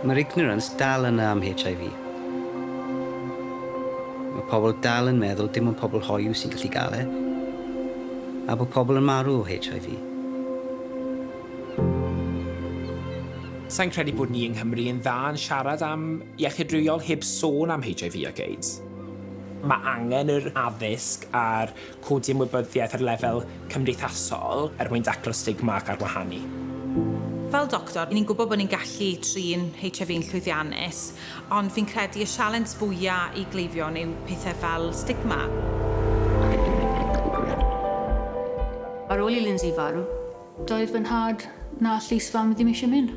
Mae'r ignorance dal yna am HIV. Mae pobl dal yn meddwl dim ond pobl hoyw sy'n gallu gael e, a bod pobl yn marw o HIV. Sa i'n credu bod ni yng Nghymru yn dda yn siarad am iechyd rhywiol heb sôn am HIV ac AIDS. Mae angen yr addysg a'r Codi ymwybyddiaeth ar lefel cymdeithasol er mwyn taclo stigma ac arwahanu. Fel doctor, ni'n gwybod bod ni'n gallu trin HIV yn llwyddiannus, ond fi'n credu y sialens fwya' i gleifion yw pethe fel stigma. Ar ôl i Lindsay farw, doedd fy nhad na llys fam ddim eisiau mynd.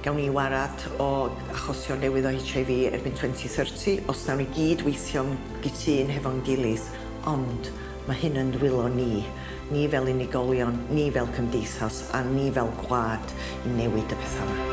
Gawn ni warad o achosion newydd o HIV erbyn 2030 os nawn ni gyd weithio'n gytun hefo'n gilydd, ond mae hyn yn dwylo ni, ni fel unigolion, ni fel cymdeithas a ni fel gwlad i newid y pethau 'ma.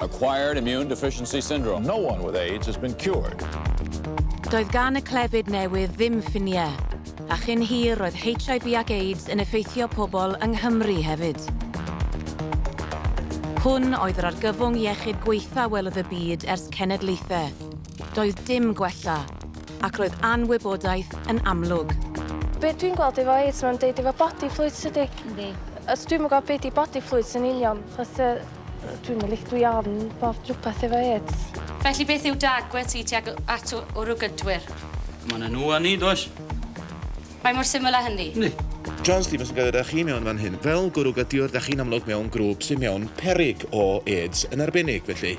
Acquired Immune Deficiency Syndrome. No one with AIDS has been cured. Doedd gan y clefyd newydd ddim ffiniau, a chyn hir roedd HIV ac AIDS yn effeithio pobl yng Nghymru hefyd. Hwn oedd yr argyfwng iechyd gwaetha welodd y byd ers cenedlaethau. Doedd dim gwella, ac roedd anwybodaeth yn amlwg. Be dwi'n gweld efo AIDS mae'n deud efo body fluids tydi? Yndi. Os dwi'm yn gweld be di body fluids yn union achos yy Dwi'm yn lic- dwi ofn bob dwpath efo êts. Felly beth yw dy agwedd ti tuag at wrw gydwyr? Mae 'na nhw a ni, does? Mae mor syml â hynny. Yndi. John Stevens yn gadael da chi mewn fan hyn. Fel gwrw gydwyr, da chi'n amlwg mewn grŵp sydd mewn peryg o êts yn arbennig, felly.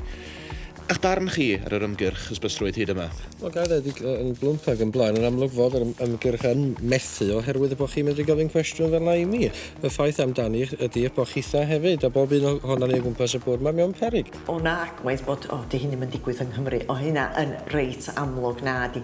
Eich barn chi ar yr ymgyrch hysbyslrwydd hyd yma? Wel, ga i ddweud, yn blwmp ac yn blaen, yn amlwg fod yr ymgyrch yn methu oherwydd bod chi'n medru gofyn cwestiwn fel 'na i mi. Y ffaith amdani ydi eich bod chitha hefyd, a bob un ohonan ni o gwmpas y bwrdd 'ma, mewn peryg. O na, gwaeth bod, o, 'di hyn ddim yn digwydd yng Nghymru. O, hynna yn reit amlwg, nadi.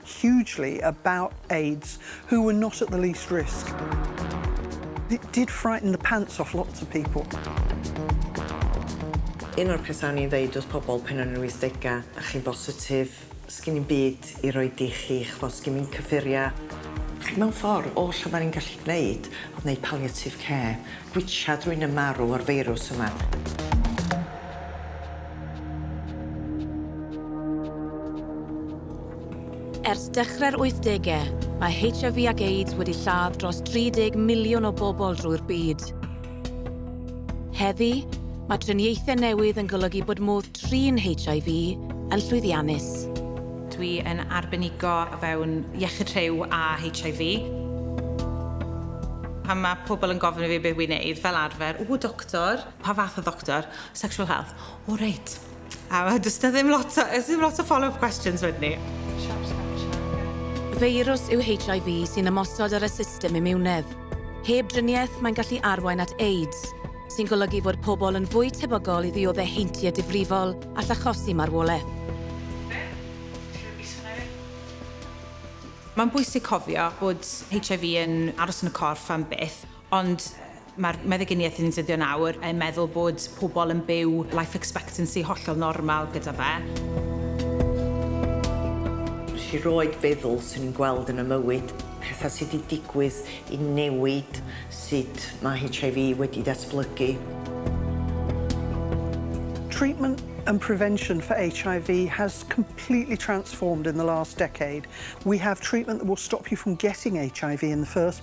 hugely about aids who were not at the least risk. It did frighten the pants off lots of people. Un o'r pethau o'n i'n ddeud wrth pobl pan o'n i'n yr wythdegau, a chi'n bositif, sgin i'm byd i roid i chi, ch'mod, sgin i'm cyffuria. Ac mewn ffordd, oll oddan ni'n gallu gneud o'dd neud palliative care, gwitsiad rywun yn marw o'r feirws yma. Ers dechrau'r wythdegau, mae HIV ac AIDS wedi lladd dros 30 miliwn o bobl drwy'r byd. Heddi, mae triniaethau newydd yn golygu bod modd trin HIV yn llwyddiannus. Dwi yn arbenigo o fewn iechyd rhyw a HIV. Pan mae pobl yn gofyn i fi beth wi'n neud, fel arfer, o, doctor, pa fath o ddoctor? Sexual health. O, reit. A mae does 'na ddim lot o, oes ddim lot o follow-up questions wedyn ni? Feirws yw HIV sy'n ymosod ar y system imiwnedd. Heb driniaeth, mae'n gallu arwain at AIDS, sy'n golygu fod pobl yn fwy tebygol i ddioddef heintiau difrifol all achosi marwolaeth. Mae'n bwysig cofio bod HIV yn aros yn y corff am byth, Ond mae'r meddyginiaeth yn defnyddio nawr yn meddwl bod pobl yn byw life expectancy hollol normal gyda fe. Felly roedd feddwl swn i'n gweld yn y mywyd, pethau sydd wedi digwydd i newid sut mae HIV wedi ddatblygu. Treatment and prevention for HIV has completely transformed in the last decade. We have treatment that will stop you from getting HIV in the first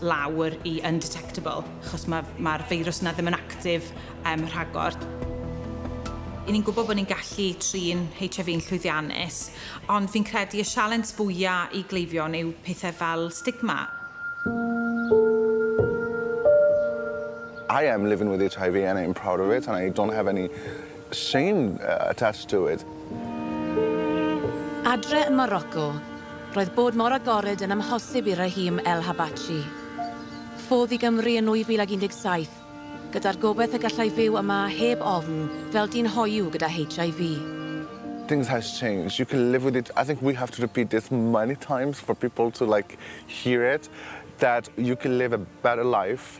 lawr i undetectable, achos mae'r ma feirws yna ddim yn actif um, rhagor. I ni'n gwybod bod ni'n gallu trin HIV yn llwyddiannus, ond fi'n credu y sialens fwyaf i gleifion yw pethau fel stigma. I am living with HIV and I'm proud of it and I don't have any Same attached to it. Adre yn Morocco, roedd bod mor agored yn amhosib i Rahim El Habachi. Ffodd i Gymru yn 2017, gyda'r gobaith y gallai fyw yma heb ofn fel dyn hoyw gyda HIV. Things has changed, you can live with it, I think we have to repeat this many times for people to like hear it, that you can live a better life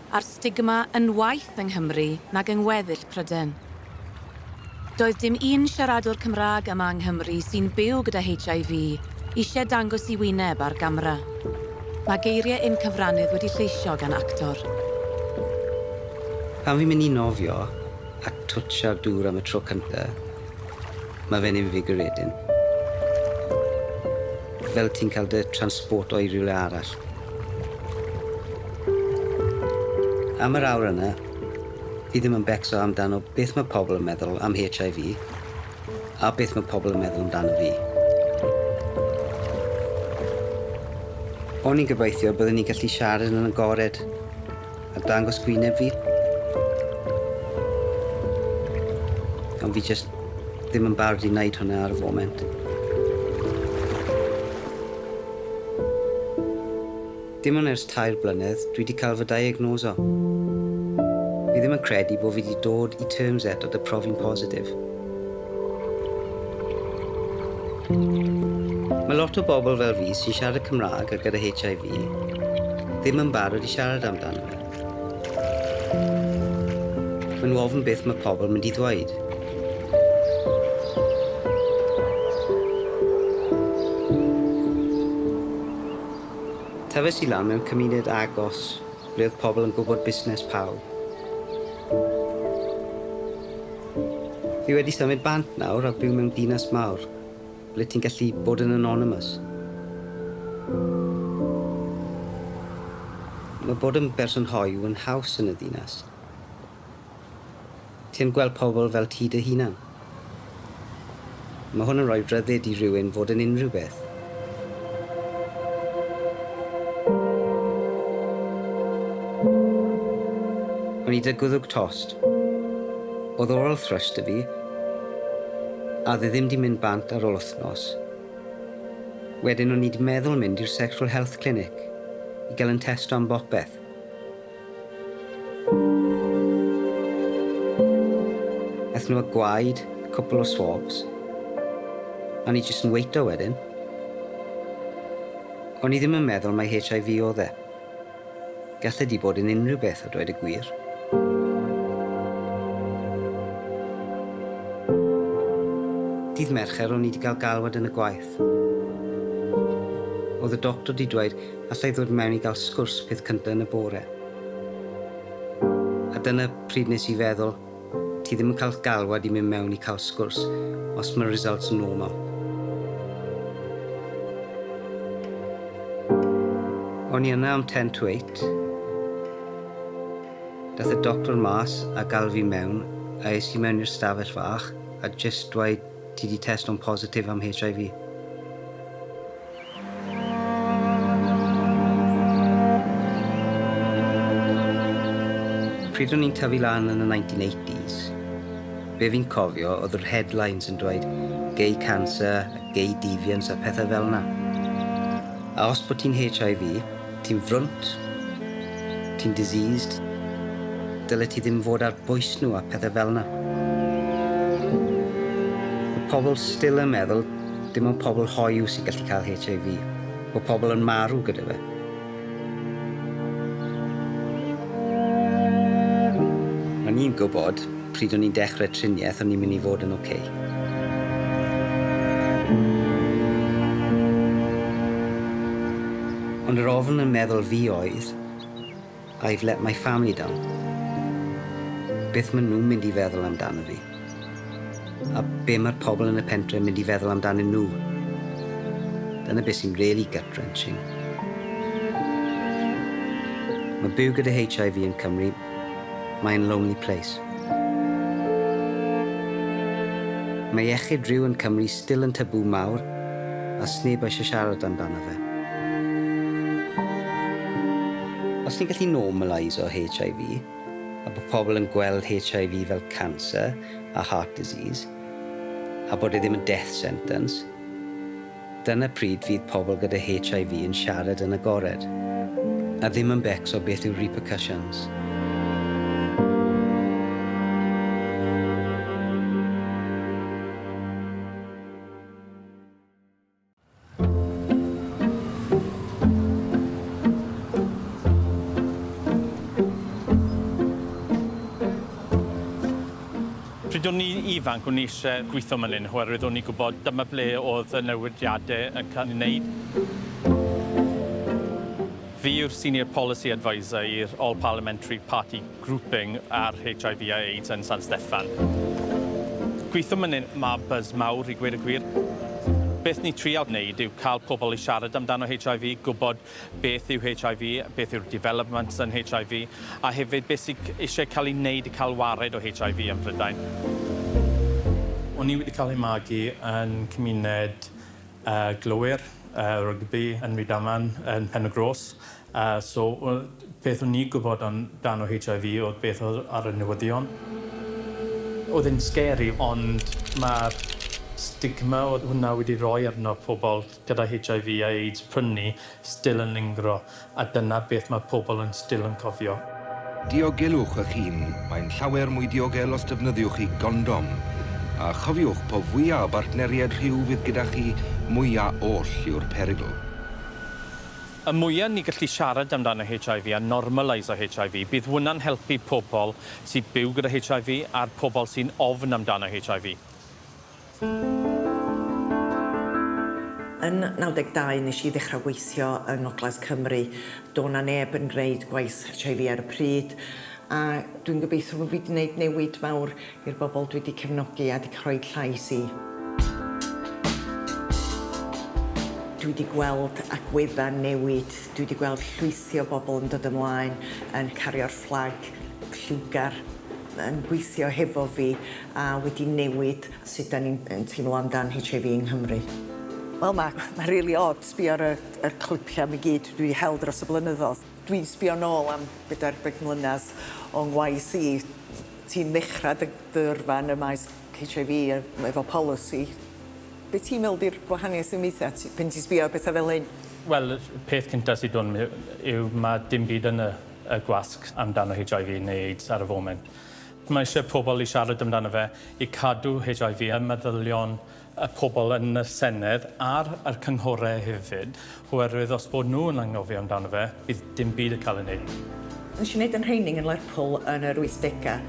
a'r stigma yn waeth yng Nghymru nag yng ngweddill Prydain. Doedd dim un siaradwr Cymraeg yma yng Nghymru sy'n byw gyda HIV eisiau dangos i wyneb ar gamera. Mae geiriau un cyfrannydd wedi lleisio gan actor. Pan fi'n mynd i nofio a twtsio'r dŵr am y tro cynta, mae fe'n invigorating. Fel ti'n cael dy transporto i rywle arall. Am yr awr yna, fi ddim yn becso amdano beth mae pobl yn meddwl am HIV, a beth mae pobl yn meddwl amdano fi. O'n i'n gobeithio byddwn ni'n gallu siarad yn agored, A dangos gwyneb fi. Ond fi jyst ddim yn barod i wneud hwnna ar y foment. Dim ond ers tair blynedd dwi 'di cael fy diagnoso. Fi ddim yn credu bo fi 'di dod i terms eto 'da profi'n positif. Mae lot o bobl fel fi sy'n siarad Cymraeg a gyda HIV ddim yn barod i siarad amdano fe. Mae nhw ofn beth mae pobl mynd i ddweud. Tafes i lan mewn cymuned agos. Ble oedd pobl yn gwybod busnes pawb. Fi wedi symud bant nawr a byw mewn dinas mawr, ble ti'n gallu bod yn anonymous. Mae bod yn berson hoyw yn haws yn y ddinas. Ti'n gweld pobl fel ti dy hunan. Mae hwn yn rhoi rhyddid i rywun fod yn unrhyw beth. O'n i dy gwddwg tost. Oedd oral thrush dy fi. A oedd e ddim di mynd bant ar ol wthnos. Wedyn o'n i di meddwl mynd i'r sexual health clinic i gael yn testo am bopeth. Aethon nhw â gwaed, cwpl o swabs, a o'n i jyst yn weito wedyn. O'n i ddim yn meddwl mai HIV oedd e. Gall e 'di bod yn unrhyw beth a dweud y gwir. Dydd Mercher o'n i 'di cael galwad yn y gwaith. Oedd y doctor 'di dweud allai ddod mewn i gael sgwrs peth cynta yn y bore. A dyna pryd nes i feddwl, ti ddim yn cael galwad i mynd mewn i cael sgwrs os mae'r results yn normal. O'n i yna am 10 to 8. Dath y doctor mas a gael fi mewn a es i mewn i'r stafell fach a jyst dweud ti di testo'n positif am HIV. Pryd o'n i'n tyfu lan yn y 1980s, be fi'n cofio oedd yr headlines yn dweud gay cancer, gay deviance a pethau fel 'na. A os bod ti'n HIV, ti'n frwnt, ti'n diseased, dylet ti ddim fod ar bwys nhw a pethau fel 'na. Mae pobl still yn meddwl Dim ond pobl hoyw sy'n gallu cael HIV. Mae pobl yn marw gyda fe. O'n i'n gwybod, pryd o'n i'n dechrau triniaeth, o'n i'n mynd i fod yn ok. Ond yr ofn yn meddwl fi oedd, I've let my family down. Beth maen nhw'n mynd i feddwl amdano fi? A be mae'r pobl yn y pentre yn mynd i feddwl amdanyn nhw? Dyna beth sy'n really gut-wrenching. Mae byw gyda HIV yn Cymru, mae'n lonely place. Mae iechyd rhyw yn Cymru still yn tabŵ mawr a sneb eisiau siarad amdano Os ni'n gallu normalise HIV, a bod pobl yn gweld HIV fel cancer a heart disease, a bod e ddim yn death sentence, dyna pryd fydd pobl gyda HIV yn siarad yn agored, a ddim yn becso beth yw'r repercussions. Pryd o'n i'n ifanc, o'n i eisiau gweithio man hyn oherwydd o'n i'n gwybod dyma ble oedd y newidiadau yn cael ei wneud. Fi yw'r Senior Policy Adviser i'r All Parliamentary Party. grouping ar HIV a AIDS yn San Steffan. Gweithiwm yn un mab buzz mawr i gweud y gwir. Beth ni trial wneud yw cael pobl i siarad amdano HIV, gwybod beth yw HIV, beth yw'r developments yn HIV, a hefyd beth sydd eisiau cael ei wneud i cael wared o HIV ym Mhrydain. O'n i wedi cael ei magu yn cymuned glowyr, rygbi, yn Rydaman, yn Pen-y-gros. A so, beth o'n ni'n gwybod am dan o HIV oedd beth oedd ar y newyddion. Oedd e'n scary ond mae'r stigma oedd hwnna wedi rhoi arno pobl gyda HIV a AIDS prynu still yn lingro a dyna beth mae pobl yn still yn cofio. Diogelwch eich hun, mae'n llawer mwy diogel os defnyddiwch chi gondom. A chofiwch, po fwya o bartneriaid rhyw fydd gyda chi, mwya oll yw'r perygl. Y mwya ni gallu siarad amdano HIV a normaleiso HIV, bydd hwnna'n helpu pobl sy'n byw gyda HIV a'r pobl sy'n ofn amdano HIV. Yn 92 nes i ddechrau weithio yng Ngogledd Cymru. Do' 'na neb yn gwneud gwaith HIV ar y pryd a dwi'n gobeithio fod fi 'di 'neud newid mawr I'r bobl dwi 'di cefnogi a 'di rhoid llais i. Dwi 'di gweld agweddau newid, dwi 'di gweld llwythi o bobl yn dod ymlaen, yn cario'r fflag lliwgar, yn gweithio hefo fi a wedi newid sut 'dan ni'n yn teimlo amdan HIV yng Nghymru. Wel ma' ma' rili od sbio ar y y clipiau 'ma i gyd dwi 'di hel dros y blynyddodd. Dwi'n sbio nôl am bedair ar bump mlynadd o ngwaith i, ti'n ddechra dy dy yrfa yn y maes Heitch Eye Vee yy m- efo polisi. Be' ti'n me'wl 'di'r gwahaniaeth sy'n weithia' ti pan ti'n sbio ar betha fel hyn? Wel y peth cynta sy' do' 'n my- yw ma' dim byd yn y y gwasg amdano Heitch Eye Vee neu AIDS ar y foment. Mae isie pobol i siarad amdano fe i cadw Heitch Eye Vee ym meddylion y pobl yn y Senedd ar yr cynghorau hefyd, oherwydd os bod nhw yn anghofio amdano fe, bydd dim byd yn cael ei wneud. Nes i neud yn rheining yn Lerpwl yn yr wythdega.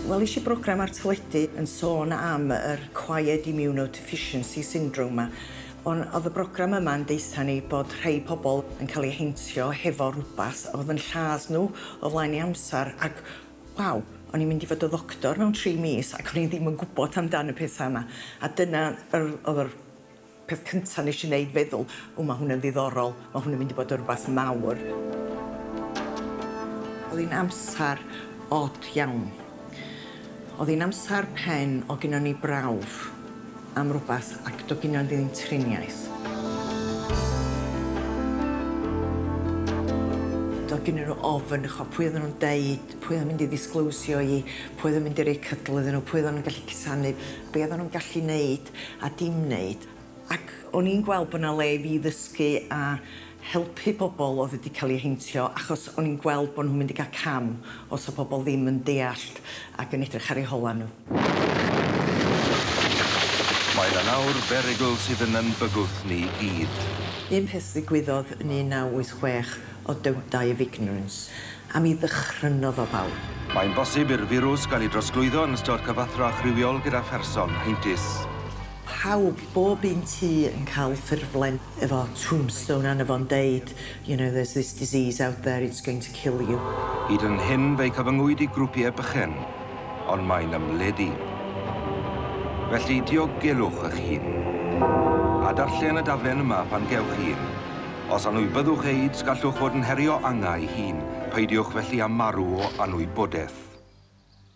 Welis i brogram ar teledu yn sôn am yr Acquired Immunodeficiency Syndrome 'ma. On' o'dd y brogram yma yn deutha ni bod rhei pobl yn ca'l 'u heintio hefo rwbath o'dd yn lladd nhw o flaen ei amsar ac Waw, o'n i'n mynd i fod y ddoctor mewn tri mis ac o'n i ddim yn gwybod amdan y pethau yma. A dyna yr oedd yr peth cynta nes i neud feddwl, o ma' hwn yn ddiddorol, ma' hwn yn mynd i fod yn rwbath mawr. Oedd hi'n amsar od iawn. Oedd hi'n amsar pen o gynnon ni brawf. am rwbath ac do gino ddim triniaeth. Do gino nhw ofn ch'o pwy odda nhw'n deud, pwy odda nhw'n mynd i ddisgloisio i, pwy odda nhw'n mynd i roi cydl iddyn nhw, pwy odda nhw'n gallu cusanu, be odda nhw'n gallu neud a dim neud ac o'n i'n gweld bo 'na le i fi ddysgu a helpu pobl oedd wedi cael eu heintio achos o'n i'n gweld bod nhw'n mynd i gael cam os oedd pobl ddim yn deallt ac yn edrych ar eu holau nhw. Mae yna nawr berygl sydd yn yn bygwth ni gyd. Un peth ddigwyddodd yn 1986 oedd Don't Die of Ignorance a mi ddychrynodd o bawb. Mae'n bosib i'r firws gael ei drosglwyddo yn ystod cyfathrach rhywiol gyda pherson heintus. pawb, bob un tŷ yn cael ffurflen efo tombstone arno fo'n deud you know there's this disease out there, it's going to kill you. Hyd yn hyn fe'i cyfyngwyd i grwpiau bychain, ond mae'n ymledu. Felly, diogelwch eich hun. A darllen y daflen yma pan gewch un. Os anwybyddwch AIDS gallwch fod yn herio angau i hun, peidiwch felly â marw o anwybodaeth.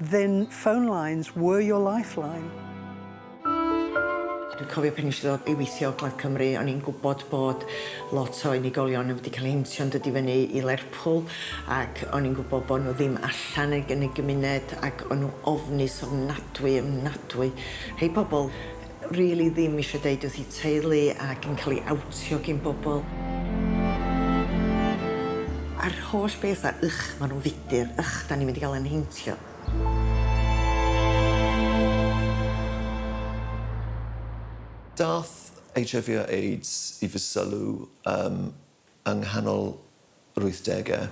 Then phone lines were your lifeline. Dwi'n cofio pan neshi ddod i weithio Plaid Cymru o'n i'n gwbod bod lot o unigolion yn mynd i ca'l heintio yn dod i fyny i Lerpwl ac o'n i'n gwbo bo' n'w ddim allan yn yn y gymuned ac o'n n'w ofnus ofnadwy ofnadwy rhei pobol rili ddim isio deud wrth i teulu ac yn cael ei awtio gin bobl. A'r holl beth 'na, ycch, ma' nhw'n fudr, ycch, 'dan ni'n mynd i gael ein heintio. Daeth HIV a AIDS i fy sylw ym yng nghanol yr wythdegau.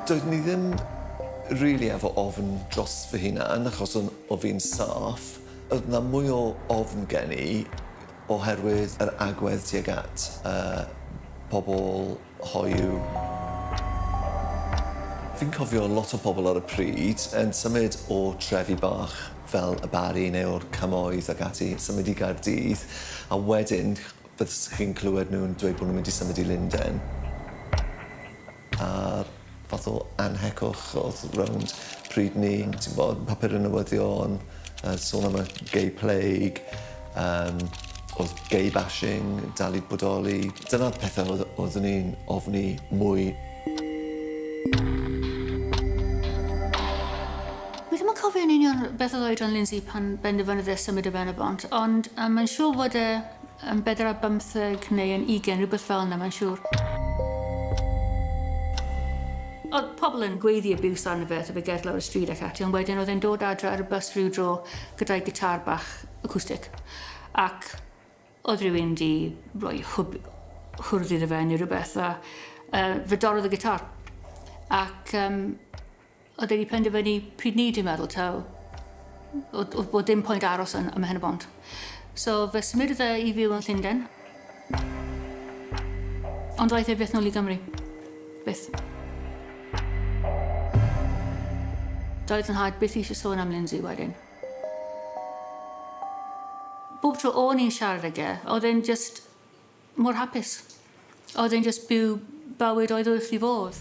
Doeddwn i ddim rili efo ofn dros fy hunan achos o'n o fi'n saff. Oedd 'na mwy o ofn gen i oherwydd yr agwedd tuag at y pobl Hoyw. Fi'n cofio lot o pobl ar y pryd yn symud o trefi bach fel y Barri neu o'r Cymoedd ac ati, symud i Gaerdydd, a wedyn byddwch chi'n clywed nhw'n dweud bod nhw'n mynd i symud i Lundain. A'r fath o anhegwch odd rownd pryd 'ny t'mbod papur y newyddion yy sôn am y gay plague yym odd gay bashing dal i bodoli dyna'r pethe odd oddwn i'n ofni mwy. Wi ddim yn cofio yn union beth odd oedran Lindsay pan benderfynodd e symud i Ben-y-bont ond yym mae'n siŵr fod e Yn bedair ar bymtheg neu yn ugain, rhywbeth fel yna mae'n siŵr. Oedd pobl yn gweiddi abuse arno fe wrth i fe gerdd lawr y stryd ac ati ond wedyn oedd e'n dod adre ar y bws rhyw dro gyda'i gitâr bach acoustic ac oedd rhywun 'di rhoi hwb hwrdd iddo fe neu rhywbeth a yy fe dorrodd y gitâr ac yym A dwi wedi penderfynu pryd ni dwi'n meddwl taw oedd oedd bod dim pwynt aros yn ym Mhen-y-bont. So fe symud e i fyw yn Llundain. Ond ddaeth e byth nôl i Gymru. Byth. Doedd fy nhad byth eisiau sôn am Lindsay wedyn. Bob tro o'n i'n siarad ag e, oedd e'n jyst Mor hapus. Oedd e'n jyst byw bywyd oedd wrth 'i fodd.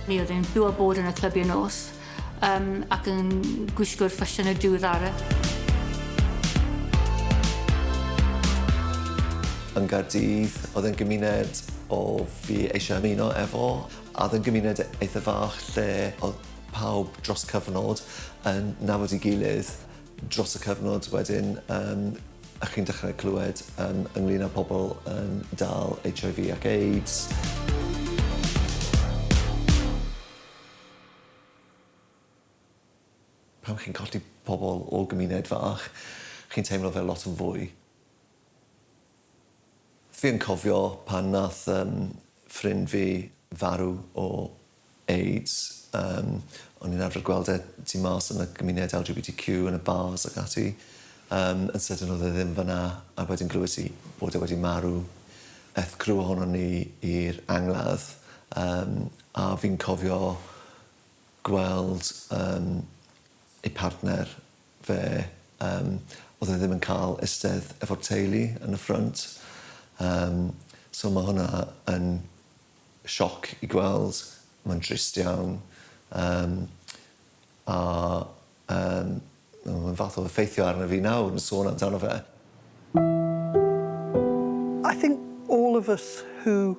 Mi oedd e'n byw a bod yn y clybiau nos um, ac yn gwisgo'r ffasiynau diweddaraf. Yn Gaerdydd, oedd e'n gymuned o fi eisiau ymuno efo, a oedd e'n gymuned eitha fach lle oedd pawb dros cyfnod yn nabod i gilydd. dros y cyfnod wedyn yym a chi'n dechrau clywed yym ynglyn â pobl yn dal HIV ac AIDS. pan chi'n colli pobl o gymuned fach, chi'n teimlo fel lot yn fwy Fi yn cofio pan nath yym ffrind fi farw o AIDS yym o'n i'n arfer gweld e tu mas yn y gymuned LGBTQ yn y bars ac ati yym yn sydyn o'dd e ddim fynna a wedyn glywes i bod e wedi marw. Eth criw ohonon ni i'r angladd yym a fi'n cofio gweld yym ei partner Fe yym o'dd e ddim yn ca'l istedd efo'r teulu yn y ffrynt yym so ma' hwnna yn sioc i gweld, ma'n drist iawn yym a yym ma' fe'n fath o effeithio arno fi nawr yn sôn amdano fe. I think all of us who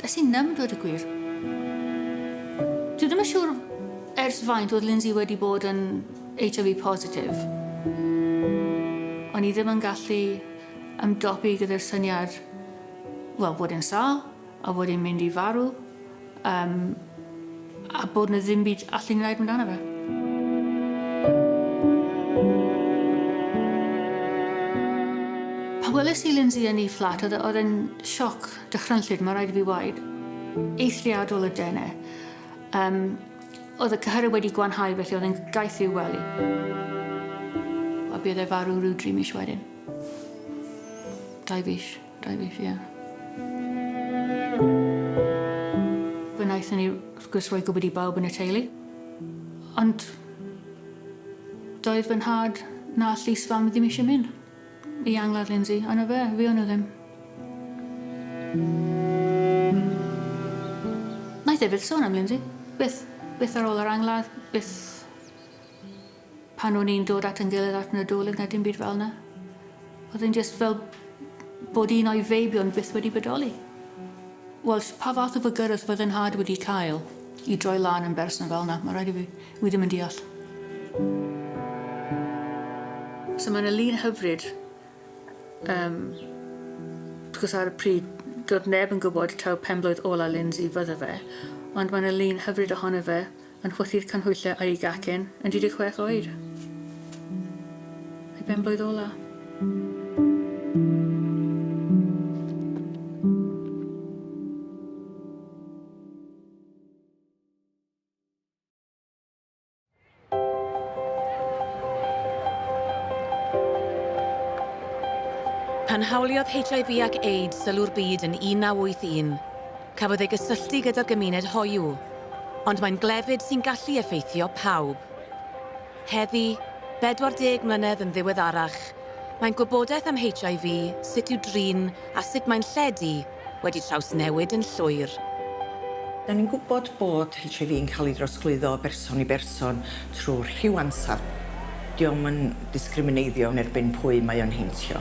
Does i ddim, dweud y gwir. Dwi ddim yn siŵr ers faint oedd Lindsay wedi bod yn HIV positif. O'n i ddim yn gallu ymdopi gyda'r syniad, wel, bod e'n sâl, a bod e'n mynd i farw, um, a bod na ddim byd allu ni wneud amdano fe. Pan weles i Lindsay yn ei fflat, oedd e'n sioc Dychrynllyd, mae rhaid i fi waed. Eithriadol o dene. Um, oedd y cyhyrau wedi gwanhau felly oedd yn gaeth i'w wely. A bydd e farw rhyw dri mis wedyn. Dau fis, dau fis, ie. Yeah. Fe wnaethon ni, wrth gwrs, roi gwybod i bawb yn y teulu. Ond doedd fy nhad na llys fam ddim eisiau mynd. I angladd Lindsay, ond 'na fe, fuon nhw ddim. Wnaeth e byth sôn am Lindsay. Byth. Byth ar ôl yr angladd, byth pan o'n i'n dod at yn gilydd at Nadolig na dim byd fel yna. Oedd e'n just fel bod un o'i feibion byth wedi bodoli. Wel, pa fath o fygyrth oedd yn nhad wedi cael i droi lan yn berson fel yna, mae rhaid i fi Wi ddim yn deall. So mae yna lun hyfryd um, gwrs ar y pryd doedd neb yn gwybod taw penblwydd ola Lindsay fydde fe, ond mae yna lun hyfryd ohono fe yn chwythu'r canhwyllau a'i gacen yn 16 oed. Ei benblwydd ola. Pan hawliodd HIV ac AIDS sylw'r byd yn 1981, cafodd ei gysylltu gyda'r gymuned hoyw, ond mae'n glefyd sy'n gallu effeithio pawb. Heddi, 40 mlynedd yn ddiweddarach, mae'n gwybodaeth am HIV, sut i'w drin a sut mae'n lledu wedi trawsnewid yn llwyr. Da ni'n gwybod bod HIV yn cael ei drosglwyddo o berson i berson trwy rhyw ansawdd. Dio'm yn discrimineiddio yn erbyn pwy mae o'n heintio.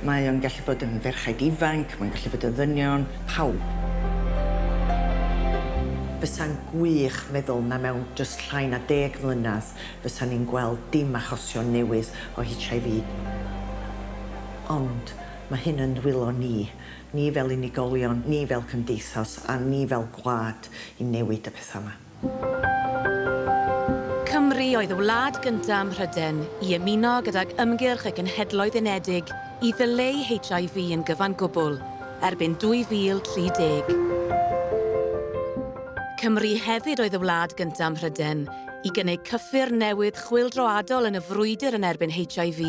Mae o'n gallu bod yn ferchaid ifanc, mae'n gallu bod yn ddynion, pawb. Fysa'n gwych meddwl na mewn jyst llai na deg mlynedd fysan ni'n gweld dim achosion newydd o HIV. Ond Mae hyn yn dwylo ni, ni fel unigolion, ni fel cymdeithas a ni fel gwlad i newid y pethau yma. Cymru oedd y wlad gyntaf ym Mhrydain i ymuno gydag Ymgyrch y Genhedloedd Unedig i ddyleu HIV yn gyfan gwbl erbyn 2030. Cymru hefyd oedd y wlad gyntaf ym Mhrydain i gynnig cyffur newydd chwyldroadol yn y frwydr yn erbyn HIV.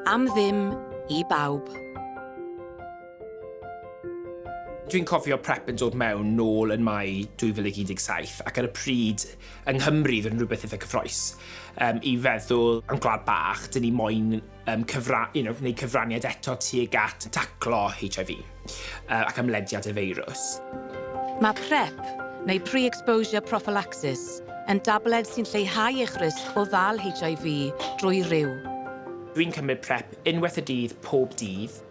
Am ddim i bawb. Dwi'n cofio prep yn dod mewn nôl yn Mai 2017 ac ar y pryd yng Nghymru fod yn rhywbeth eitha cyffroes um, i feddwl am gwlad bach, dyn ni moyn um, cyfra, you know, gwneud cyfraniad eto tuag at taclo HIV. ac ymlediad y feirws. Mae PrEP, neu Pre-Exposure Prophylaxis, yn dabled sy'n lleihau eich risg o ddal HIV drwy ryw. Dwi'n cymryd PrEP unwaith y dydd pob dydd.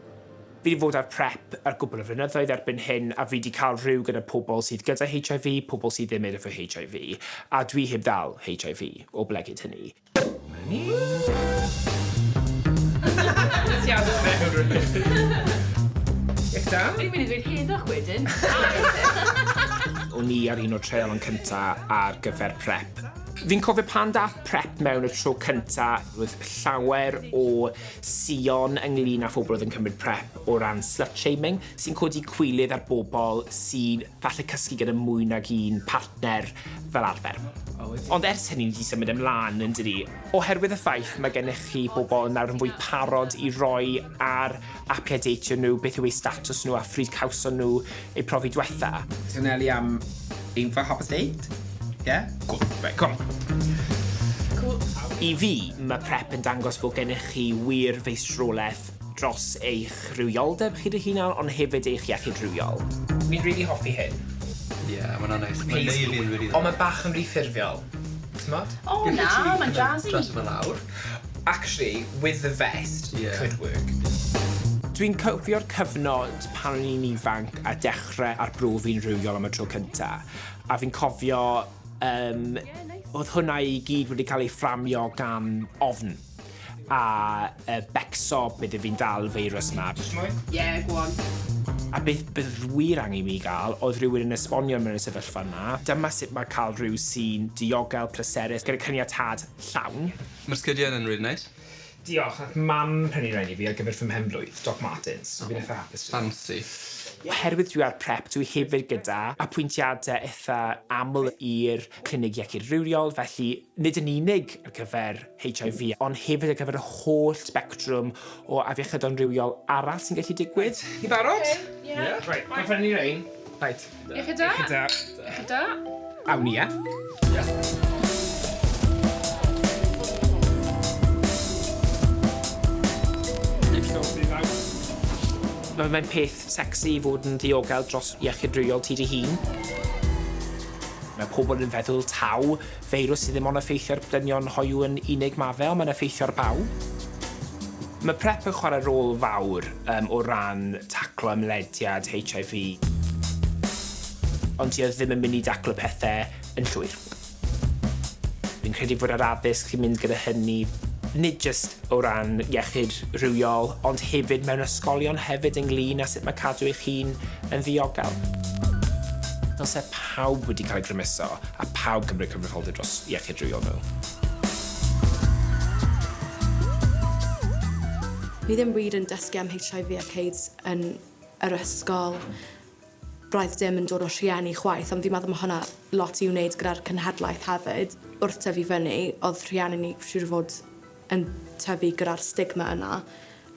Fi 'di fod ar PrEP ar gwpl o flynyddoedd erbyn hyn a fi 'di cael rhyw gyda pobl sydd gyda HIV, pobl sydd ddim efo HIV, a dwi heb ddal HIV o ble cyd hynny. O'n i ar un o'r treialon cynta ar gyfer prep. Fi'n cofio pan dath prep mewn y tro cynta, roedd llawer o sïon ynglŷn â phobl oedd yn cymryd prep o ran slut-shaming, sy'n codi cwilydd ar bobl sy'n Falle cysgu gyda mwy nag un partner fel arfer. Ond ers hynny ni 'di symud ymlan yn dydi? Oherwydd y ffaith mae gennych chi bobl nawr yn fwy parod i roi ar apiau deitio nhw beth yw eu statws nhw a phryd cawson nhw eu profi dwetha. Twnelu am ein fy hapus date? Ie? Cŵl, reit, cwm! Cŵl! I fi, mae prep yn dangos bod gennych chi wir feistrolaeth dros eich rhywioldeb chi dy hunan ond hefyd eich iechyd rhywiol. Fi'n rili hoffi hyn. Ie, ma' wnna'n neis. Ma'n neud fi'n rili hapus. Ond ma' bach yn ry ffurfiol. T'mod? O na, ma'n jazzy. Gellid ti kind of dratsio fe lawr. Actually, with the vest, it could work. Dwi'n cofio'r cyfnod pan o'n i'n ifanc a dechre arbrofi yn rhywiol am y tro cynta, a fi'n cofio yym o'dd hwnna i gyd wedi ca'l ei fframio gan ofn. A uh, becso bydde fi'n dal feirws na. Just mwy? Yeah, go on. A beth bydd wir angen mi gael oedd rhywun yn esbonio mewn y sefyllfa yma. Dyma sut mae cael rhyw sy'n diogel, pleserus, gyda cyniatad llawn. Mae'r sgidiau yn rili neis. Diolch, nath mam prynu rhain i fi ar gyfer fy mhen-blwydd, Doc Martens. So fi'n eitha hapus. Fancy. Oherwydd dwi ar prep, dwi hefyd gyda apwyntiadau eitha aml i'r clinig iechyd rhywiol, felly nid yn unig ar gyfer HIV, ond hefyd ar gyfer y holl sbectrwm o afiechyd amrywiol arall sy'n gallu digwydd. Reit, chi barod? Ie. Ie. Reit, gorffen i ni rein. Reit. Iechyd da. Iechyd da. Iechyd da. Awn ni, ie? Ie. Mae'n peth sexy i fod yn ddiogel dros iechyd rhywiol ti dy hun. Mae pobl yn feddwl taw Feirws sydd ddim ond effeithio'r dynion hoyw yn unig ma fe, ond mae'n effeithio'r bawb. Mae prep yn chwarae rôl fawr um, o ran taclo ymlediad HIV. Ond ti oedd ddim yn mynd i daclo pethau yn llwyr. Fi'n credu fod yr addysg sy'n mynd gyda hynny, nid jyst o ran iechyd rhywiol, ond hefyd mewn ysgolion hefyd ynglyn â sut mae cadw eich hun yn ddiogel. Dylse pawb wedi cael ei grymuso. a phawb gymryd cyfrifoldeb dros iechyd rhywiol nhw. Ni ddim wir yn dysgu am HIV ac AIDS yn yr ysgol. Roedd dim yn dod o rhieni chwaith, ond fi'n meddwl mae hwnna lot i'w wneud gyda'r cynhadlaeth hefyd. Wrth tyfu fyny, oedd rhieni ni siŵr fod yn tyfu gyda'r stigma yna.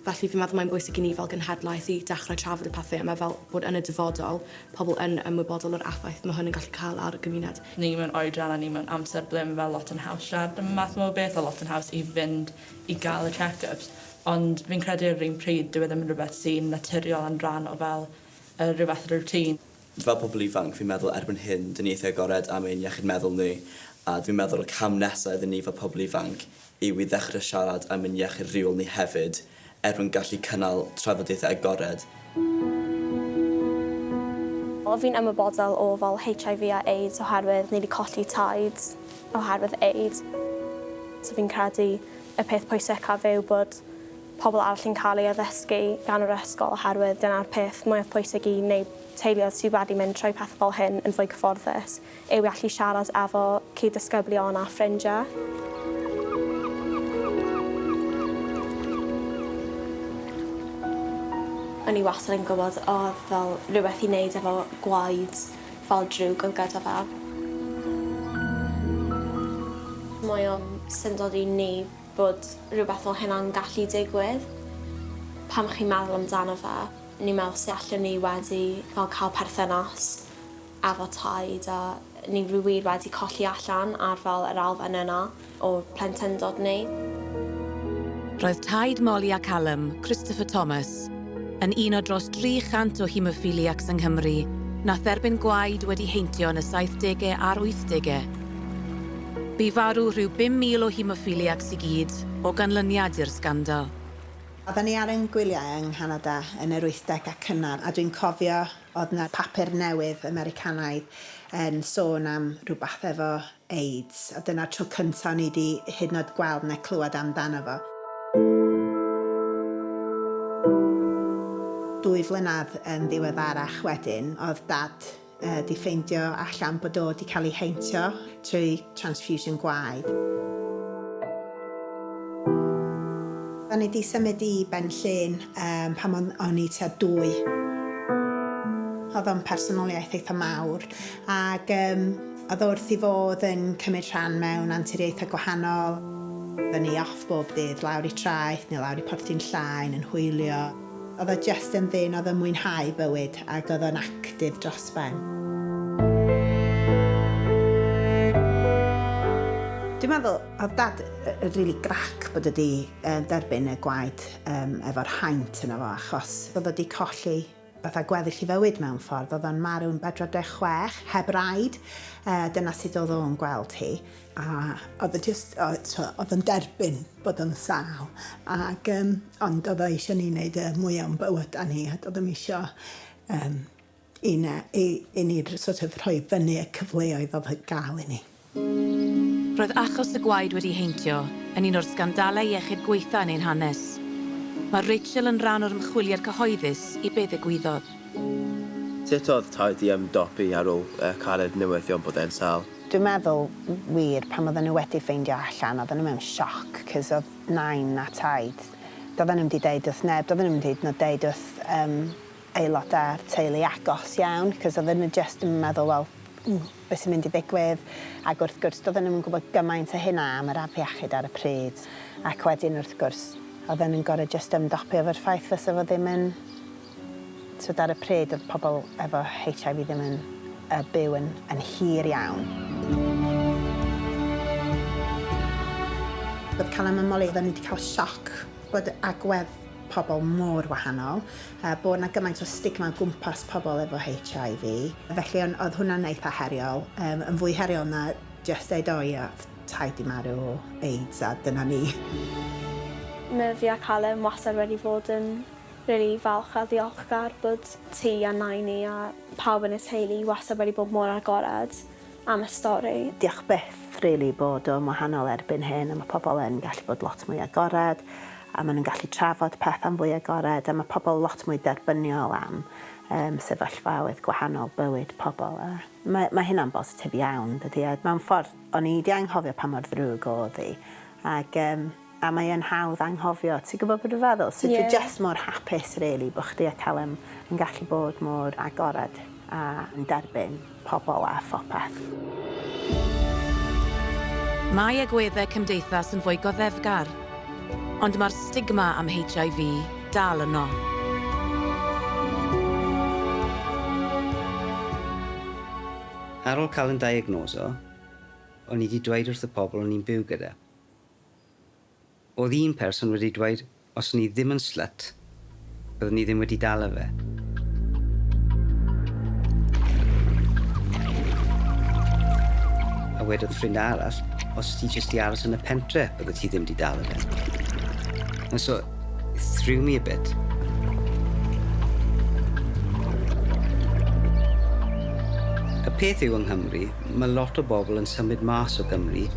Felly fi'n meddwl mae'n bwysig i ni fel genhedlaeth i dechrau trafod y pethau yma fel bod yn y dyfodol pobl yn ymwybodol o'r effaith mae hwn yn gallu cael ar y gymuned. Ni mewn oedran a ni mewn amser ble mae fel lot yn haws siarad am y math yma o beth a lot yn haws i fynd i gael y check-ups ond fi'n credu ar yr un pryd dyw e ddim yn rhywbeth sy'n naturiol yn rhan o fel yy rhyw fath o routine. Fel pobl ifanc, fi'n meddwl erbyn hyn, dyn ni eitha agored am ein iechyd meddwl ni, a dwi'n meddwl y cam nesa iddyn ni fel pobl ifanc yw i ddechre siarad am ein iechyd rhywiol ni hefyd, er mwyn gallu cynnal trafodaethau agored. O, fi'n ymwybodol o fel HIV a AIDS oherwydd ni 'di colli taid oherwydd AIDS. So fi'n credu y peth pwysicaf yw bod pobl arall yn cael ei addysgu gan yr ysgol oherwydd dyna'r peth mwyaf pwysig i wneud teuluoedd sydd wedi mynd trwy pethau fel hyn yn fwy cyfforddus yw i allu siarad efo cyd-ddisgyblion a ffrindiau. O'n i wastad yn gwybod oedd fel rhywbeth i wneud efo gwaed fel drwg oedd gyda fe. Mae o'n syndod i ni bod rhywbeth fel hynna'n gallu digwydd. Pan chi'n meddwl amdano fe, ni'n meddwl sut allwn ni wedi fel cael perthynas efo Taid a ni wir wedi colli allan ar fel yr elfen yna o plentyndod ni. Roedd Taid Molly a Callum, Christopher Thomas, yn un o dros 300 o haemophiliacs yng Nghymru na therbyn gwaed wedi heintio yn y saithdege a'r wythdege. Bu farw rhyw 5,000 o haemophiliacs i gyd o ganlyniad i'r sgandal. Oedden ni ar ein gwyliau yng Nghanada yn yr wythdeg a cynnar a dwi'n cofio oedd 'na papur newydd Americanaidd yn sôn am rywbeth efo AIDS a dyna'r tro cynta' o'n i 'di hyd yn oed gweld ne' clywed amdano fo. Dwy flynedd yn ddiweddarach wedyn o'dd Dad ydi ffeindio allan bod o 'di cael ei heintio trwy transfusion gwaed. O'n i 'di symud i Ben Llŷn pan o'n i tua dwy. Oedd o'n personoliaeth eitha' mawr ac oedd o wrth ei fodd yn cymryd rhan mewn anturiaethau gwahanol, fyny off bob dydd, lawr i Traeth neu lawr i Porthu'n Llaen yn hwylio. Oedd o jyst yn ddyn oedd yn mwynhau bywyd ac oedd o'n actif dros ben. Dwi'n meddwl oedd Dad yn rili grac bod o 'di derbyn y gwaed efo'r haint yno fo achos oedd o 'di colli fatha gweddill ei fywyd mewn ffordd. Oedd o'n marw yn 46 heb raid. Dyna sut oedd o'n gweld hi. a oedd e just, oedd yn derbyn bod yn sal. Ac, um, ond oedd e eisiau ni wneud y mwy o'n bywyd a ni, a oedd ddim eisiau um, i, na, i, i ni sort of rhoi fyny y cyfleoedd oedd y gael i ni. Roedd achos y gwaed wedi heintio yn un o'r sgandalau iechyd gweitha yn ein hanes. Mae Rachel yn rhan o'r ymchwiliad cyhoeddus i be ddigwyddodd. Sut oedd taid i ymdopi ar ôl uh, cared newyddion bod e'n sal? Dwi'n meddwl, wir, pan oedden nhw wedi ffeindio allan, oedden nhw mewn sioc, 'cos oedd Nain na Taid, doedden nhw'm 'di deud wrth neb, doedden nhw'm 'di hyd yn oed deud wrth yym aelodau'r teulu agos iawn, 'cos oedden nhw jyst yn meddwl, wel, be' sy'n mynd i ddigwydd? Ac wrth gwrs, doedden nhw'm yn gwybod gymaint â hynna am yr afiechyd ar y pryd, ac wedyn, wrth gwrs, oedden nhw'n gorfod jyst ymdopi efo'r ffaith fysa fo ddim yn T'wod ar y pryd oedd pobl efo HIV ddim yn yy byw yn yn hir iawn. Oedd Callum a Molly oedden nhw 'di cael sioc bod agwedd pobl mor wahanol a bod 'na gymaint o stigma o gwmpas pobl efo HIV. Felly o'n oedd hwnna'n eitha heriol yym yn fwy heriol na jyst deud o ia oedd taid 'di marw o AIDS a dyna ni. Mae fi a Callum wastad wedi fod yn Rili falch a ddiolchgar bod ti a Nain ni a pawb yn y teulu wastad wedi bod mor agored am y stori. Diolch byth rili bod o'n wahanol erbyn hyn a ma' pobl yn gallu bod lot mwy agored a ma' nhw'n gallu trafod pethau'n fwy agored a ma' pobl lot mwy derbyniol am yym sefyllfaoedd gwahanol bywyd pobl a ma' ma' hynna'n bositif iawn dydi a mewn ffordd o'n i 'di anghofio pa mor ddrwg o'dd hi ag yym A mae e'n hawdd anghofio, ti'n gwybod be dwi'n feddwl? So dwi jyst mor hapus rili bod chdi a Callum yn gallu bod mor agored a yn derbyn pobl a phopeth. Mae agweddau cymdeithas yn fwy goddefgar, ond mae'r stigma am HIV dal yno. Ar ol cael yn diagnoso, o'n i 'di dweud wrth y pobl o'n i'n byw gyda. Oedd un person wedi dweud os o'n i ddim yn slut, byddwn i ddim wedi dala fe. A wedodd ffrind arall, os ti jyst di aros yn y pentre, bydde ti ddim di dala fe. And so, it threw me a bit. Y peth yw yng Nghymru, Mae lot o bobl yn symud mas o Gymru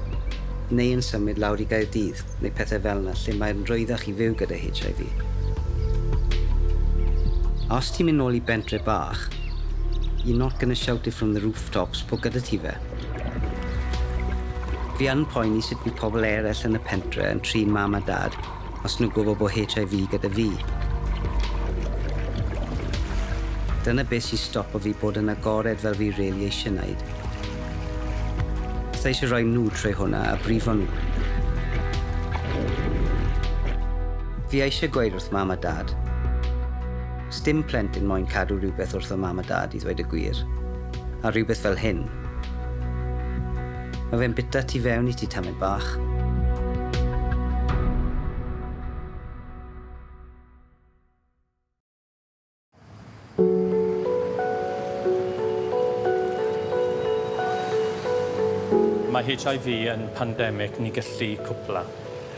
neu yn symud lawr i Gaerdydd neu pethau fel 'na lle mae'n rhwyddach i fyw gyda HIV. A os ti'n mynd nôl i bentre bach, you're not gonna shout it from the rooftops bod gyda ti fe. Fi yn poeni sut bydd pobl eraill yn y pentre yn trin mam a dad, os nhw'n gwybod bod HIV gyda fi. Dyna beth sy'n stopo fi bod yn agored fel fi rili eisiau wneud. Fydda eisiau rhoi nhw trwy hwnna a brifo nhw. Fi eisiau gweud wrth mam a dad, sdim plentyn moyn cadw rhywbeth wrth o mam a dad i ddweud y gwir, a rhywbeth fel hyn. Mae fe'n bita tu fewn i ti, tamed bach. Mae HIV yn pandemig ni gallu cwpla.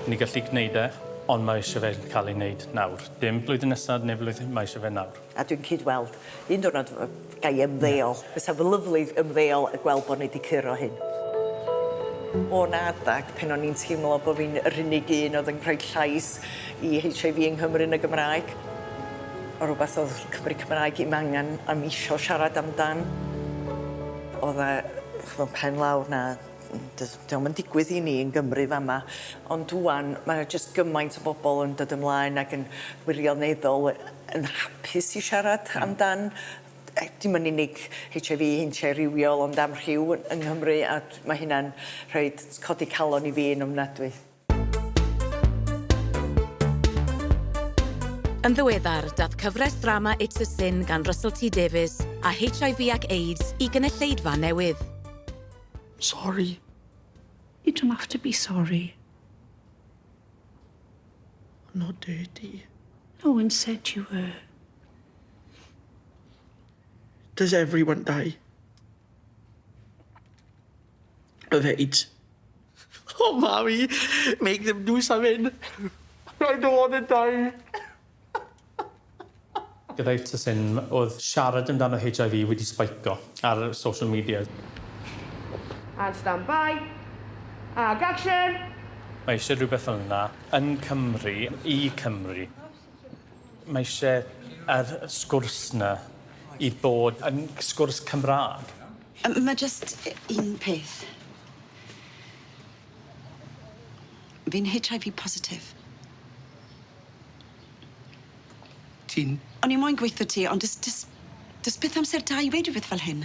Ni gallu gwneud e, ond mae eisiau fe cael ei wneud nawr. Dim blwyddyn nesaf neu flwyddyn, mae eisiau fe nawr. A dwi'n cyd-weld. Un diwrnod yy ga i ymddeol. Ie. Fysa fo lyfli ymddeol a gweld bo' ni 'di curo hyn. O 'na adag pen o'n i'n teimlo bo' fi'n yr unig un o'dd yn rhoi llais i Heitch Eye Vee yng Nghymru yn y Gymraeg. O' rwbath o'dd Cymry Cymraeg i'm angan o'm isio siarad amdan. O'dd e ch'mo' pen lawr 'na Does dio'm yn digwydd i ni yn Gymru fama ond ŵan ma' 'na jyst gymaint o bobol yn dod ymlaen ac yn wirioneddol yy yn hapus i siarad amdan yy dim yn unig Heitch Ai Vee heintiau rhywiol ond am rhyw yy yng Nghymru a d- ma' hynna'n rhoid codi calon i fi yn ofnadwy. Yn ddiweddar, dath cyfres ddrama It's a Sin gan Russell T Davies a HIV ac AIDS i gynulleidfa newydd. Sorry. You don't have to be sorry. I'm not dirty. No one said you were. Does everyone die? Of AIDS. O mami, make them do something. Rhaid o fod yn dai. Gyda'i tŷ yn oedd siarad amdano HIV wedi sbeico ar social media. And stand by. Ac action! Mae eisiau rhywbeth fel 'na yn Cymru, i Cymru. Mae isie yr sgwrs 'na i bod yn sgwrs Cymrâg. Yym ma' jyst yy un peth. Fi'n Heitch Eye Vee positif. Ti'n... O'n i moyn gweutho ti ond do's do's do's byth amser da i weud rwbeth fel hyn.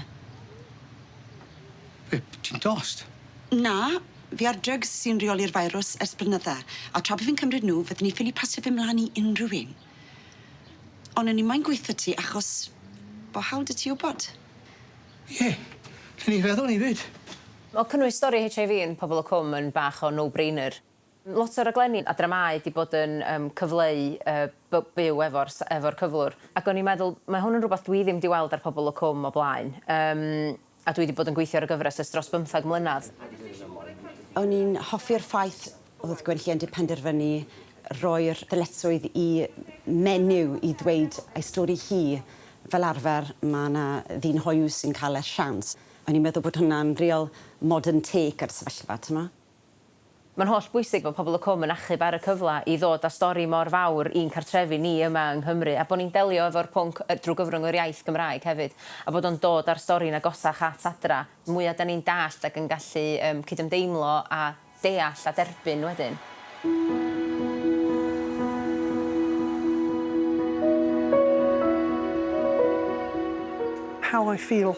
Be', ti'n dost? Na. Fi ar drygs sy'n reoli'r firws ers blynydda, a tra bo fi'n cymryd nhw, fydden i ffili pasio fe mlan i unrhyw un. Ond o'n i moyn gweutho ti achos bo hawl 'dy ti wbod. Ie, lle o'n i feddwl o'n i fyd? Wel, cynnwys stori HIV yn Pobol y Cwm yn bach o no-brainer. Lot o raglenni a dramâu 'di bod yn yym cyfleu y by- byw efo'r s- efo'r cyflwr, ac o'n i'n meddwl, mae hwn yn rwbath dwi ddim 'di weld ar Pobol y Cwm o blaen. Yym. A dwi 'di bod yn gweithio ar y gyfres ers dros bymthag mlynedd. O'n i'n hoffi'r ffaith o'dd Gwenllian 'di penderfynu roi'r ddyletswydd i Menyw i ddweud ei stori hi. Fel arfer ma' 'na ddyn hoyw sy'n ca'l y siawns. O'n i'n meddwl bod hwnna'n rîl modern take ar y sefyllfa t'mo'? Mae'n holl bwysig bod pobl y Cwm yn achub ar y cyfle i ddod â stori mor fawr i'n cartrefi ni yma yng Nghymru a bod ni'n delio efo'r pwnc drwy gyfrwng yr iaith Gymraeg hefyd a bod o'n dod â'r stori'n agosach at adra, mwya' 'da ni'n dallt ac yn gallu yym cydymdeimlo a deall a derbyn wedyn. How I feel.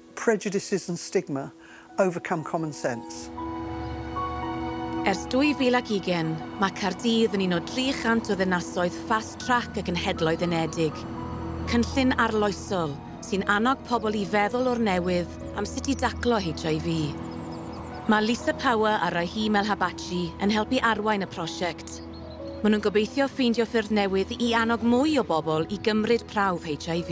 Prejudices and stigma, overcome common sense. Ers 2020, mae Caerdydd yn un o 300 o ddinasoedd Fast Track y Genhedloedd Unedig, cynllun arloesol sy'n annog pobl i feddwl o'r newydd am sut i daclo HIV. Mae Lisa Power a Rahim Elhabachi yn helpu arwain y prosiect. Maen nhw'n gobeithio ffeindio ffyrdd newydd i annog mwy o bobl i gymryd prawf HIV.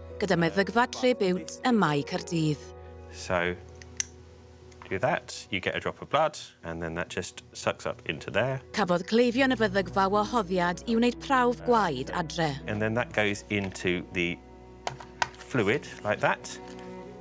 gyda meddygfa lle biwt ym Mae Caerdydd. So, do that, you get a drop of blood, and then that just sucks up into there. Cafodd cleifion y feddygfa wahoddiad i wneud prawf gwaed adre. And then that goes into the fluid, like that.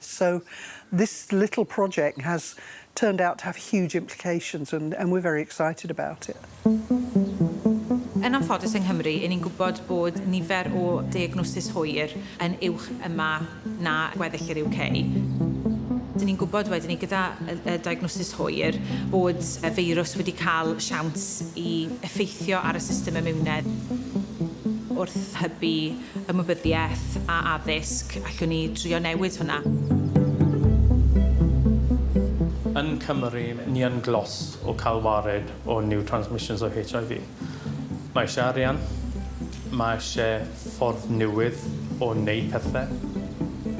So this little project has turned out to have huge implications and and we're very excited about it. Yn anffodus yng Nghymru, 'yn ni'n gwybod bod nifer o deiagnosis hwyr yn uwch yma na gweddill yr UK. 'Dyn ni'n gwybod wedyn 'ny gyda y y diagnosis hwyr bod y feirws wedi cael siawns i effeithio ar y system imiwnedd wrth hybu ymwybyddiaeth a addysg, allwn ni drio newid hwnna. Yn Cymru, ni yn glos o cael wared o new transmissions o HIV. Mae eisiau arian, mae eisiau ffordd newydd o wneud pethau.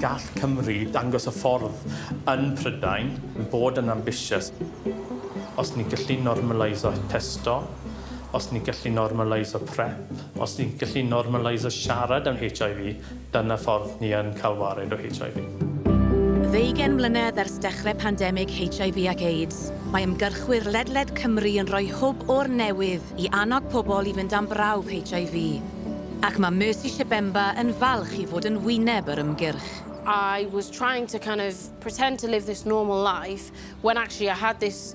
Gall Cymru dangos y ffordd yn Prydain, bod yn ambitious. Os ni gallu normaleiso testo, Os ni'n gallu normaleiso prep, os ni'n gallu normaleiso siarad am HIV, dyna ffordd ni yn cael wared o HIV. Ddeugain mlynedd ers dechrau pandemig HIV ac AIDS, mae ymgyrchwyr ledled Cymru yn rhoi hwb o'r newydd i annog pobl i fynd am brawf HIV, ac mae Mercy Shebemba yn falch i fod yn wyneb yr ymgyrch. I was trying to kind of pretend to live this normal life when actually I had this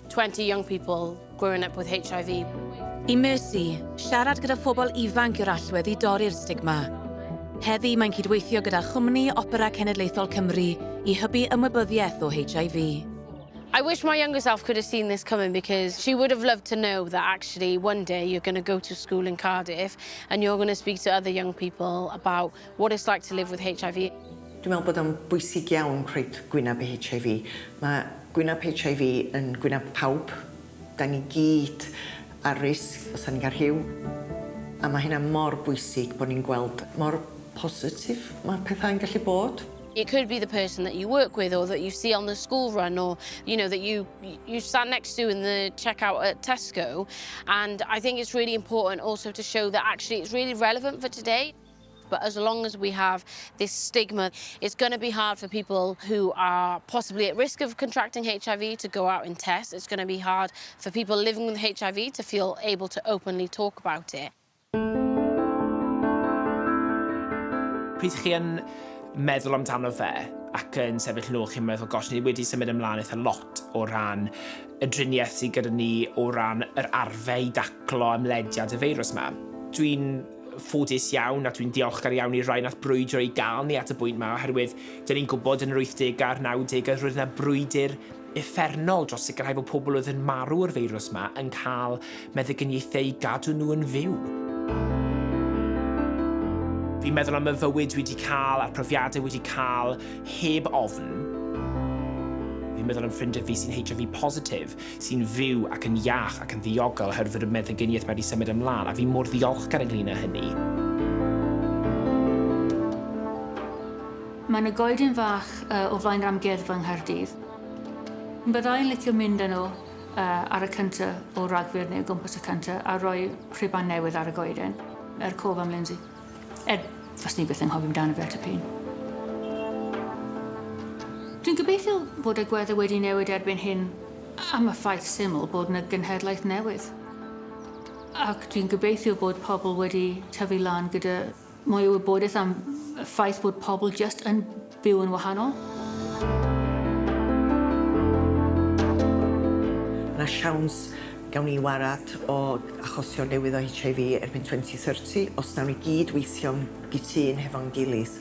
20 young people growing up with HIV. I Mercy, siarad gyda phobl ifanc yw'r allwedd i dorri'r stigma. Heddi mae'n cydweithio gyda Chwmni Opera Cenedlaethol Cymru i hybu ymwybyddiaeth o HIV. I wish my younger self could have seen this coming because she would have loved to know that actually one day you're going to go to school in Cardiff and you're going to speak to other young people about What it's like to live with HIV. Dwi'n meddwl bod o'n bwysig iawn rhoid gwyneb i HIV. Mae gwyneb HIV yn gwyneb pawb. Da ni gyd ar risg os da ni'n cael rhyw. A mae hynna mor bwysig bod ni'n gweld mor positif mae pethau'n gallu bod. It could be the person that you work with or that you see on the school run or you know that you you stand next to in the checkout at Tesco and I think it's really important also to show that actually it's really relevant for today. But as long as we have this stigma, it's going to be hard for people who are possibly at risk of contracting HIV to go out and test. It's going to be hard for people living with HIV to feel able to openly talk about it. Pryd chi yn meddwl amdano fe ac yn sefyll nôl chi'n meddwl, gosh, ni wedi symud ymlaen eitha lot o ran y driniaeth sydd gyda ni o ran yr arfe i daclo ymlediad y feirws yma. Dwi'n ffodus iawn a dwi'n diolchgar iawn i'r rhai nath brwydro i gael ni at y bwynt ma oherwydd dyn ni'n gwybod yn yr 80au a'r 90au roedd yna brwydr effernol dros sicrhau fod pobl oedd yn marw o'r feirws ma yn cael meddygyniaethau i gadw nhw yn fyw. Fi'n meddwl am y fywyd dwi wedi cael a'r profiadau wedi cael heb ofn. Fi'n meddwl am ffrindiau fi sy'n HIV positif sy'n fyw ac yn iach ac yn ddiogel oherwydd fod y meddyginiaeth wedi symud ymlaen, a fi mor ddiolchgar ynglŷn â hynny. Mae 'na goeden fach o flaen yr amgueddfa yng Nghaerdydd. Bydda i'n licio mynd â nhw ar y cyntaf o Ragfyr neu o gwmpas y cyntaf a rhoi rhuban newydd ar y goeden, er cof am Lindsay. Er, faswn i byth yn nghofio amdano fe tipyn. Dwi'n gobeithio bod agweddau wedi newid erbyn hyn am y ffaith syml bod yna genhedlaeth newydd. Ac dwi'n gobeithio bod pobl wedi tyfu lan gyda mwy o wybodaeth am y ffaith bod pobl just yn Byw yn wahanol. Mae siawns gawn ni warad o achosion newydd o HIV erbyn 2030 os nawn ni gyd weithio'n gytun hefo'n gilydd.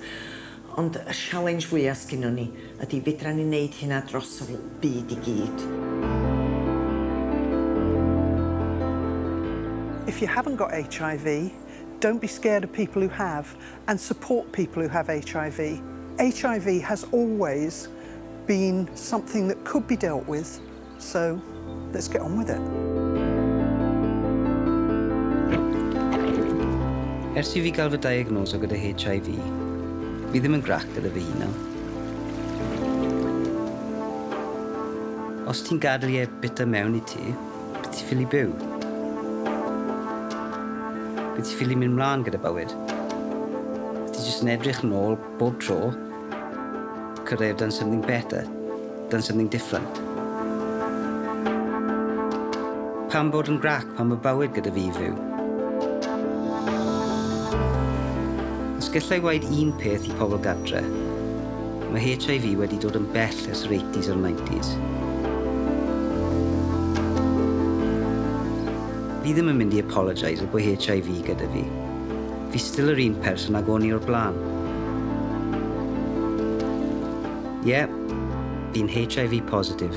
Ond y sialens fwya sgynnon ni ydi fedran ni neud hynna dros y byd i gyd? If you haven't got HIV, don't be scared of people who have. and support people who have HIV. HIV has always been something that could be dealt with, so let's get on with it. Ers i fi gael fy diagnoso gyda HIV, fi ddim yn grac gyda fy hunan. Os ti'n gadw e bita mewn i ti, Be ti ffili byw? Be ti ffili mynd mlaen gyda bywyd? Ti jyst yn edrych yn ôl bob tro, could I have done something better? Done something different? Pam bod yn grac pan mae bywyd gyda fi i fyw? Os gallai waed un peth i pobl gadre, mae HIV wedi dod yn bell Lles yr 80s a'r 90s. Fi ddim yn mynd i apologise y bo HIV gyda fi. Fi still yr un person ag o'n i o'r blaen. Ie, fi'n HIV positive.